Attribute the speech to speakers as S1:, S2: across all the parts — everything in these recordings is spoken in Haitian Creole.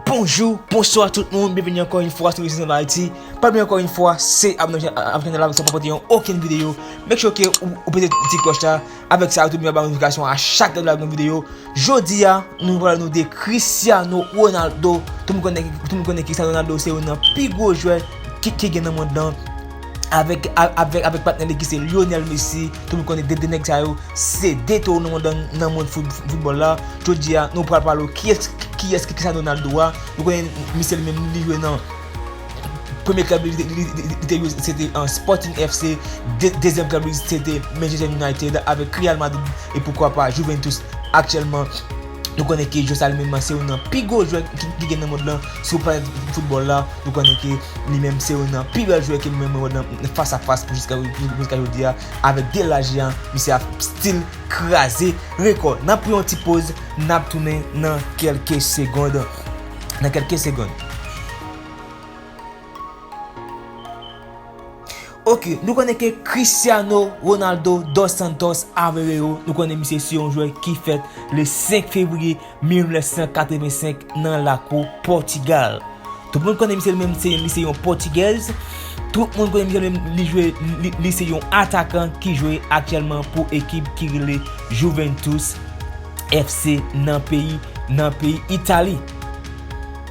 S1: Bonjou, bonswa tout moun, byenveni ankò yon fwa sou Richesse en Haïti Pa bliye ankò yon fwa, se abòne avèk chanèl la pou sa pa pèdi yon okenn videyo Make sure ke ou pete ti kloch la Avèk sa yo tout moun ap ba notifikasyon a chak lè nou lage yon videyo. Jodi a, nou pral nou de Cristiano Ronaldo. Tout moun konnen, tout moun konnen Cristiano Ronaldo se youn nan pi gwo jwè ki ki gen nan mond lan. Avèk, avèk, avèk patnè li ki se Lionel Messi. Tout moun konnen 2 de nèg sa yo se 2 towo nan mond lan, nan mond fout, foutbòl la. Jodi a, nou pral pale w kiyès, kiyès ki Cristiano Ronaldo a. Nou konnen misye li menm li jwe nan. Premye klèb li te jwe se te Sporting FC, dezyèm klèb li se te Manchester United, avèk Real Madrid e poukwa pa Juventus aktyèlman. Nou konnen ke Josal menm se youn nan pi gwo jwè ki gen nan mond lan, sou planèt foutbòl la. Nou konnen ke li menm se youn nan pi bèl jwè ke nou menm wè nan fas a fas jiska jodi a. Avèk 2 laj li a, misye ap stil kraze rekò. N ap pran yon ti poz, n ap tounen nan kèlke segond. nan kelke segond. Ok, nou konnen ke Cristiano Ronaldo dos Santos Aveiro, nou konnen misye se yon jwè ki fèt le 5 fevriye 1985 nan lakou Portugal. Tout moun konnen misye li menm se li se yon Portuguese. Tout moun konnen misye li menm li jwe li se yon atakan ki jwe aktyèlman pou ekip ki rele Juventus. FC nan peyi nan peyi Italie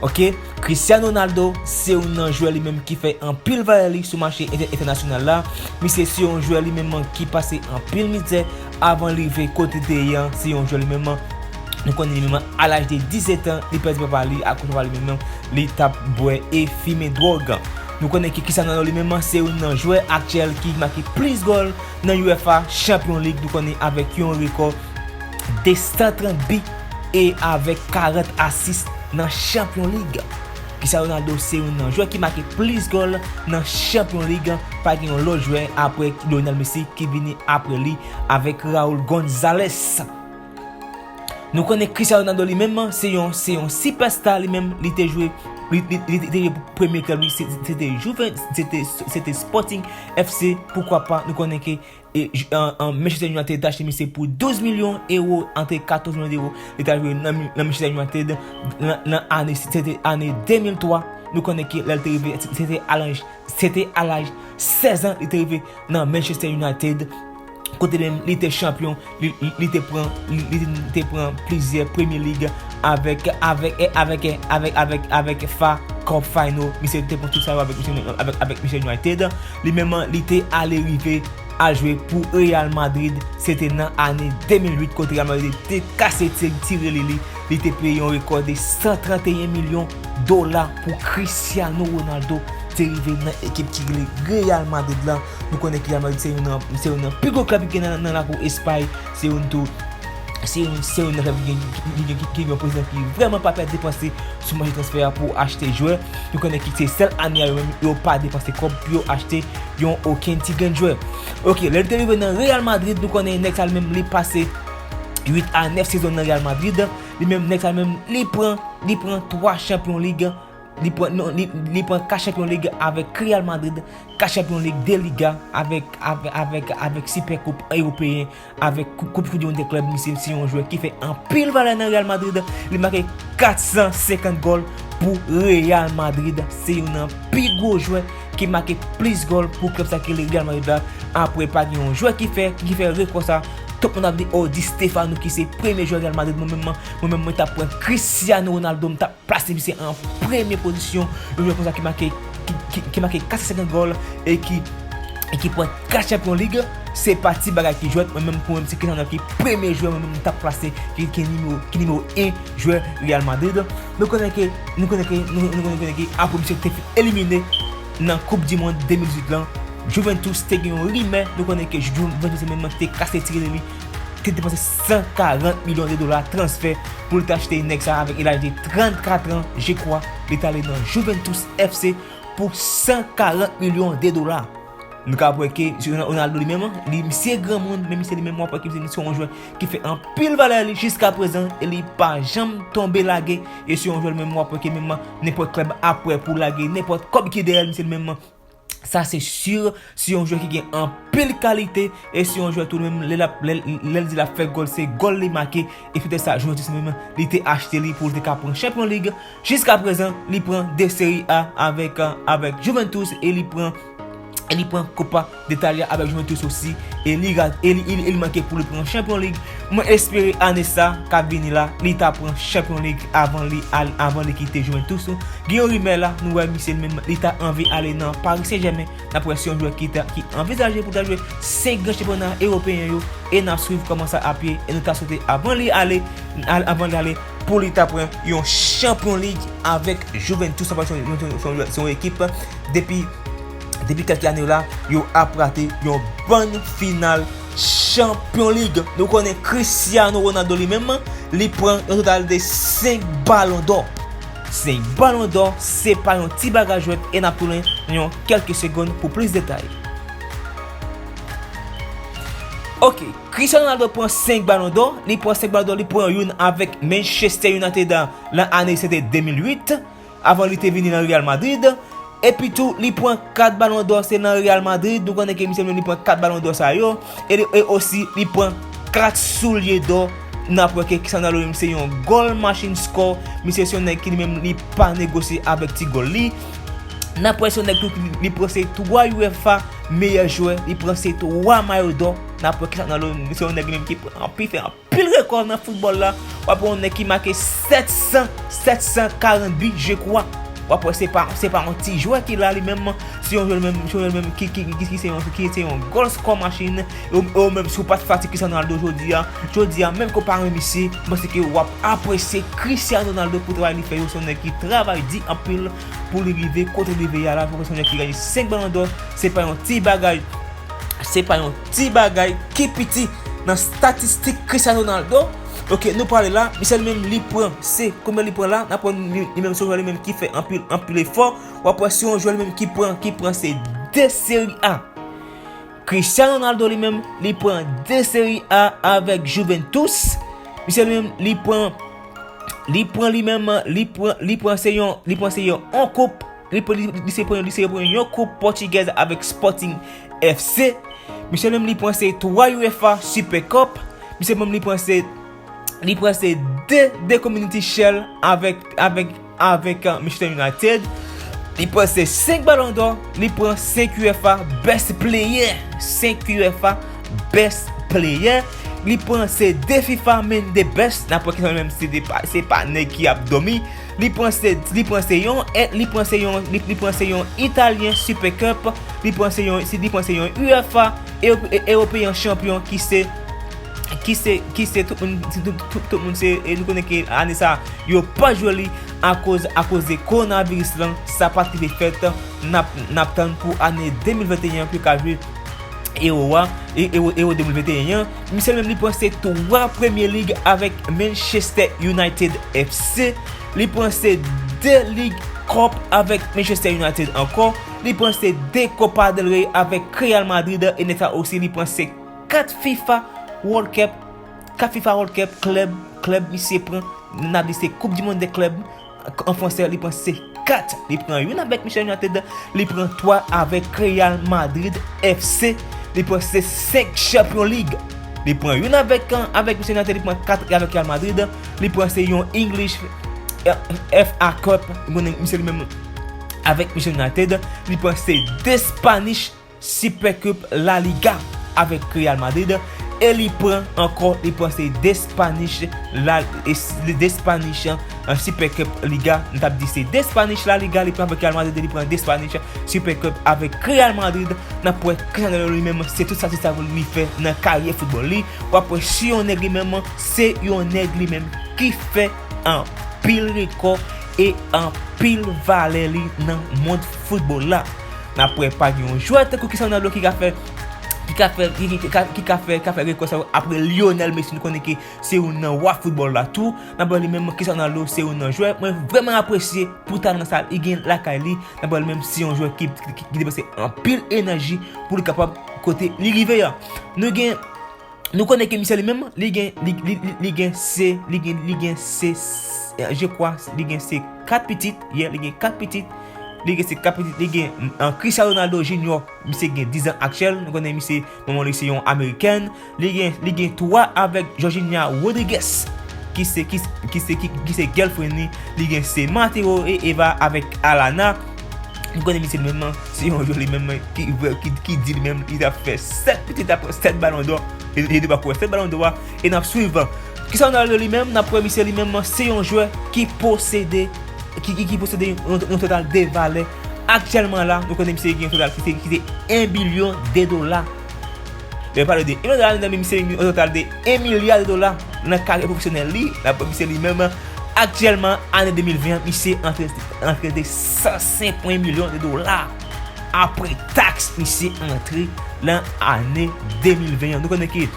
S1: ok Cristiano Ronaldo se yon nan jwè li menm ki fè anpil valè li sou mache entènasyonal la misye se yon jwè li menm an ki pase anpil mizè avan li rive kote li te ye an se yon jwè li menm an Nou konnen li menm a laj de 17 an, li pèdi papa li, akoz papa li menm li tap bwè e fimen dwòg. Nou konnen ki Cristiano Ronaldo li menm se youn nan jwè aktyèl ki make plis gòl nan UEFA Champion League nou konnen avèk yon rekò 230 bi e avèk 40 asis nan Champion League. Cristiano Ronaldo se youn nan jwè ki make plis gòl nan Champion League, pa gen yon lòt jwè aprè Lionel Messi ki vini aprè li avèk Raul Gonzalez. Nou konnen Cristiano Ronaldo li menm se yon se yon super star li menm li te jwe li te jwe pou premye club li se te Juve se te Sporting FC poukwa pa nou konnen ke an Manchester United ta achte misye pou 12 milyon euro antre 14 milyon euro li ta jwe nan Manchester United nan ane se te ane 2003 nou konnen ke lèl te rive se te alanj se te alaj 16 an li te rive nan Manchester United kote menm li te chanpyon, li te pran, li te pran plizyè premye lig avèk, avèk, avèk, avèk, avèk, avèk fa cup final, misye te pran tout sa yo avèk misye, avèk, avèk misye United, li menm li te ale rive al jwe pou Real Madrid, se te nan ane 2008 kote Real Madrid te kase ti rele li, li te peye yon rekò de 131 milyon dola pou Cristiano Ronaldo te rive nan ekip ki rele Real Madrid la. Nou konnen Real Madrid se youn nan pi gwo klèb ki gen nan lakou Espay. Se youn tou, se youn nan klèb ki gen ki gen yon prezidan ki vrèman pa pè depanse sou mache transfè a pou achte jwè. Nou konnen ki se sèl ane a yo menm yo pa depanse kòb pou yo achte yon okenn ti grenn jwè. Ok, lè li te rive nan Real Madrid, nou konnen nèg sa li menm li pase 8 a 9 sezon nan Real Madrid. Li menm nèg sa li menm li pran li pran 3 chanpyon lig Li pran 4 chanpyon lig avèk Real Madrid, 4 chanpyon lig 2 Liga avèk Sipè koup Ewopeyen avèk koup Koudimond dè klèb misye se yon jwè ki fè anpil valè nan Real Madrid li make 450 gòl pou Real Madrid se yon nan pi gwo jwè ki make plis gòl pou klèb sa ki rele Real Madrid la apre pa gen yon jwè ki fè ki fè rekò sa tout moun ap di oh Di Stéphano ki se premye jwè Real Madrid mwen menm mwen tap pran Cristiano Ronaldo m tap Plas li se an premye pozisyon, yon jwè konsa ki make ki make 450 gòl e ki e ki pran 4 chanpyon lig, se pa ti bagay ki jwèt, mwen menm pou mwen m se Kylian ki premye jwè mwen menm m tap plase ki ki nimewo ki nimewo 1 jwè Real Madrid, nou konnen ke nou konnen ke nou nou konnen ke apre misye te fin elimine nan koup di mond 2018 lan Juventus te gen yon rimè, nou konnen ke Juventus se menm nan ki te kase tirelli te depanse 140 milyon de dola transfè pou l te achte nèg sa avèk e laj de 34 an je kwa li t ale nan Juventus FC pou 140 milyon de dola nou kab wè ke se Ronaldo li menm li misye granmoun men misye li menm wap wè ke misye se yon jwè ki fè anpil valè li jiska prezan e li pa janm tonbe lage e se yon jwè li menm wap wè ke menm nenpòt klèb ap wè pou lage nenpòt kòb ki dèyè l misye li menm Sa se sur, se yon jwè ki gen anpil kalite, e se yon jwè tou menm lè lap lèl di lap fè gòl se gòl li make, e se te sa Juventus menm li te achte li pou li te ka pran Champions League, jiska prezan li pran 2 Serie A avèk avèk Juventus e li pran e li pran Copa d'Italia avèk Juventus osi e li e li manke pou li pran Champions League. Mwen espere ane sa kap vini la li ta pran champion league avan li al avan li kite juventus gen yon rimè la nou wè misye menm li ta anvi ale nan paris saint germain nap wè si yon jwè ki ta ki anvizaje pou ta jwe 5 gran chanpyona eropeyen yo e nap swiv kòman sa ap ye e nou ta swete avan li ale al avan li ale pou li ta pran yon champion league avèk juventus sa pral son yon son son son yon ekip depi depi kèlke ane yo la yo ap rate yon bann final Chanpyon lig, nou konnen Cristiano Ronaldo li menm, li pran yon total de 5 balon dò. 5 balon dò, se pa yon ti bagay jwèt e nap tounen nan yon kelke segonn pou plis detay. Ok, Cristiano Ronaldo pran 5 balon dò, li pran 5 balon dò, li pran youn avèk Manchester United lan ane se te 2008. avan li te vini nan Real Madrid, epi tou li pran 4 balon dò se nan Real Madrid nou konnen ke misye menm li pran 4 balon dò sa yo, e osi li pran 4 soulye dò, nap wè ke Cristiano Ronaldo li menm se yon goal machine score, misye se yon nèg ki li menm li pa negosye avèk ti goal li, nap wè se yon nèg tou ki li pran se 3 UEFA meyè jwè, li pran se 3 mayo dò, nap wè Cristiano Ronaldo se yon nèg li menm ki pran anpi fè anpi. Pil rekò nan foutbòl la, w ap wè yon nèg ki make 700, 740 bi je kwa. W ap wè se pa, se pa yon ti jwè ki la li menm, se yon jwè li menm, se yon jwè li menm ki, ki, ki se yon, ki se yon goal score machine. E w, e w menm si w pa t fati Cristiano Ronaldo jodi a, jodi a menm ke w pa renmen misye, m panse ke w ap apresye Cristiano Ronaldo pou travay li fè yo. Se yon nèg ki travay di anpil pou li rive kote li rive a la. Fò w wè se yon nèg ki genyen 5 balon dò, se pa yon ti bagay, se pa yon. Ti bagay ki piti nan statistik Cristiano Ronaldo ok nou pale la misye li menm li pran se konbyen li pran la nap wè li menm se yon jwè li menm ki fè anpil anpil efò wap wè se yon jwè li menm ki pran ki pran se 2 seri a Cristiano Ronaldo li menm li pran 2 seri a avèk Juventus misye li menm li pran li pran li menm li pran li pran se yon li pran se yon 1 koup Li se pran yon koup Pòtigèz avèk Sporting FC. Misye menm li pran se 3 UEFA Super Cup. Misye menm li pran se 2 Community Shield avèk Manchester United. Li pran se 5 Ballon d'Or. Li pran 5 UEFA Best Player. 5 UEFA Best Player. Li pran se 2 FIFA Man the Best. Nan pwè ki sa menm se pa nèg ki ap dòmi. Li pran se li pran se yon et li pran se yon li pran se yon Italyen Super Cup li pran se yon li pran se yon UEFA European Champion ki se ki se ki se tout moun tout moun se nou konnen ke ane sa yo pa jwe li akoz akoz de coronavirus lan sa pa trive fèt nap nap tann pou ane 2021 pou yo ka jwe Euro a Euro 2021 an. Misye menm li pran se 3 Premier League avèk Manchester United FC, li pran se 2 League Cup avèk Manchester United ankò, li pran se 2 Copa del Rey avèk Real Madrid e nèsa osi li pran se 4 fifa World Cup, 4 fifa World Cup club, club misye pran, nap di se coupe du monde des clubs, An fransè li pran se 4 li pran youn avèk Michel United, li pran 3 avèk Real Madrid FC, li pran se 5 Champion League. Li pran youn avèk avèk Michel United, li pran 4 avèk Real Madrid, li pran se yon English FA Cup, mwen misye li menm avèk Michel United, li pran se 2 Spanish Super Cup La Liga avèk Real Madrid e li pran ankò li pran se 2 Spanish la 2 Spanish Super Cup Liga m tap di se 2 Spanish La Liga li pran avèk Real Madrid e li pran 2 Spanish Super Cup avèk Real Madrid nap wè Cristiano li menm se tout sa ti sa li fè nan karyè foutbòl li wap wè si yon nèg li menm se yon nèg li menm ki fè anpil rekò e anpil valè li nan mond foutbòl la. Nap wè pa gen yon jwè tankou Cristiano Ronaldo ki ka fè ki ka fè ki ka fè ka fè rekò sa yo apre Lionel Messi nou konnen ke se youn nan wa foutbòl la tou nan pale menm Cristiano Ronaldo se youn nan jwè mwen vrèman apresye pou talan sa li gen lakay li nan pale menm se yon jwè ki depanse anpil enèji pou li kapab kote li rive an nou gen Nou konnen ke misye li menm li gen li gen se li gen li gen se je kwa li gen se 4 pitit ye li gen 4 pitit li gen se 4 pitit li gen an Christian Ronaldo Junior misye gen 10 ans aktyèl nou konnen misye manman li se yon amerikèn li gen li gen 3 avèk Georgina Rodriguez ki se ki se ki se girlfriend li li gen se Mateo et Eva avèk Alana M konnen misye menm nan se yon jwè li menm ki di li menm li ta fè 7 petèt aprè 7 balon dò e li te poko wè 7 balon dò a e n ap swiv kisa nou pral wè li menm n ap wè misye li menm se yon jwè ki posede ki posede yon total de valè aktyèlman la nou konnen misye gen yon total ki te 1 bilyon de dola. Yo pale de 1 milyon dola nan men misye, yon total de 1 milya de dola nan karyè pwofesyonèl li. Dapre misye li menm, aktyèlman ane 2020 an misye antre de 105 pwen milyon de dola apre taks misye antre nan ane 2020 an. Nou konnen ke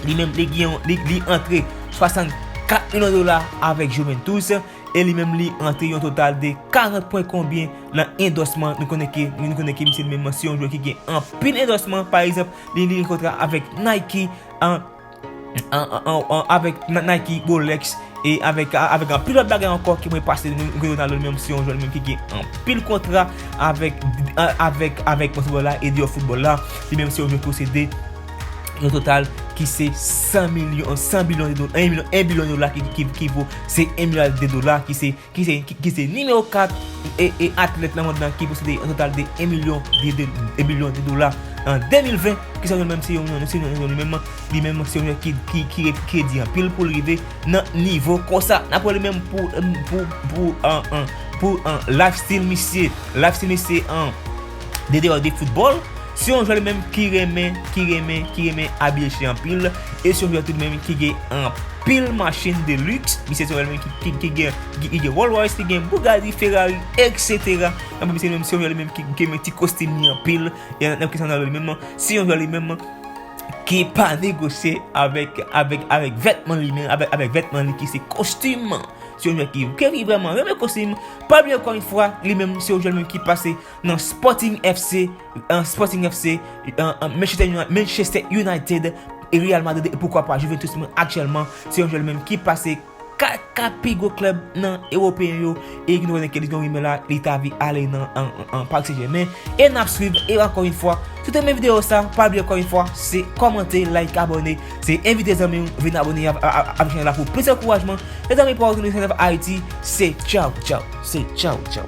S1: li menm li antre 64 milyon dola avèk Juventus. e li menm li antre yon total de 40 pwen konbyen nan endòsman nou konnen ke nou konnen ke misye li menm se yon jwè ki gen anpil endòsman pa egzanp li li gen kontra avèk Nike avèk Nike Rolex e avèk anpil lòt bagay ankò ki mwen pa site nou konnen Ronaldo li menm se yon jwè li menm ki gen anpil kontra avèk avèk avèk monstre foutbòl la e deyò foutbòl la li menm se yon jwè ki posede yon total ki se 100 milyon, 100 bilyon de dola, 1 milyon, 1 bilyon de dola ki vo se 1 milyard de dola ki se, ki se, ki se nimewo 4 e, e atlèt nan mond lan ki posede yon total de 1 milyon de, de, 1 bilyon de dola an 2020, ki se yon menm, se yon, yon, se yon, yon li menm, li menm se yon ki, ki, ki re, ki redi anpil pou l rive nan nivo konsa. N ap wè li menm pou, pou, pou an, an, pou an life style misye, life style misye an, de deyò de foutbòl. Se yon jwè li menm ki renmen, ki renmen, ki renmen abiye chyen anpil. E se yon jwè tou li menm ki gen anpil machin de lux. Misye se yon jwè li menm ki gen, li gen Rolls Royce, li gen Bugatti, Ferrari, etc. Anpil misye li menm se yon jwè li menm ki renmen ti kostim li anpil. E nan kesyon nan li menm, se yon jwè li menm ki pa negosye avèk, avèk, avèk vètman li menm, avèk, avèk vètman li ki se kostim. Se yon jwè ki, ki vreman renmen kostim. Pablo ankò yon fwa, li menm se yon jwè li menm ki pase. nan Sporting FC, Manchester United, Real Madrid e poukwa pa Juventus men aktyèlman se yon jwè li menm ki pase 4 pi gwo klèb nan ewopeyen yo e ki nou konnen ke li gen yon rimè la li ta vi ale nan Paris Saint Germain e nap swiv e ankò yon fwa si w te renmen videyo sa pa bliye ankò yon fwa se kòmante like abòne se envite zanmi w vin abòne avèk chanèl la pou plis ankourajman mezanmi pa w tounen se nan Ayiti se tchaw tchaw se tchaw tchaw.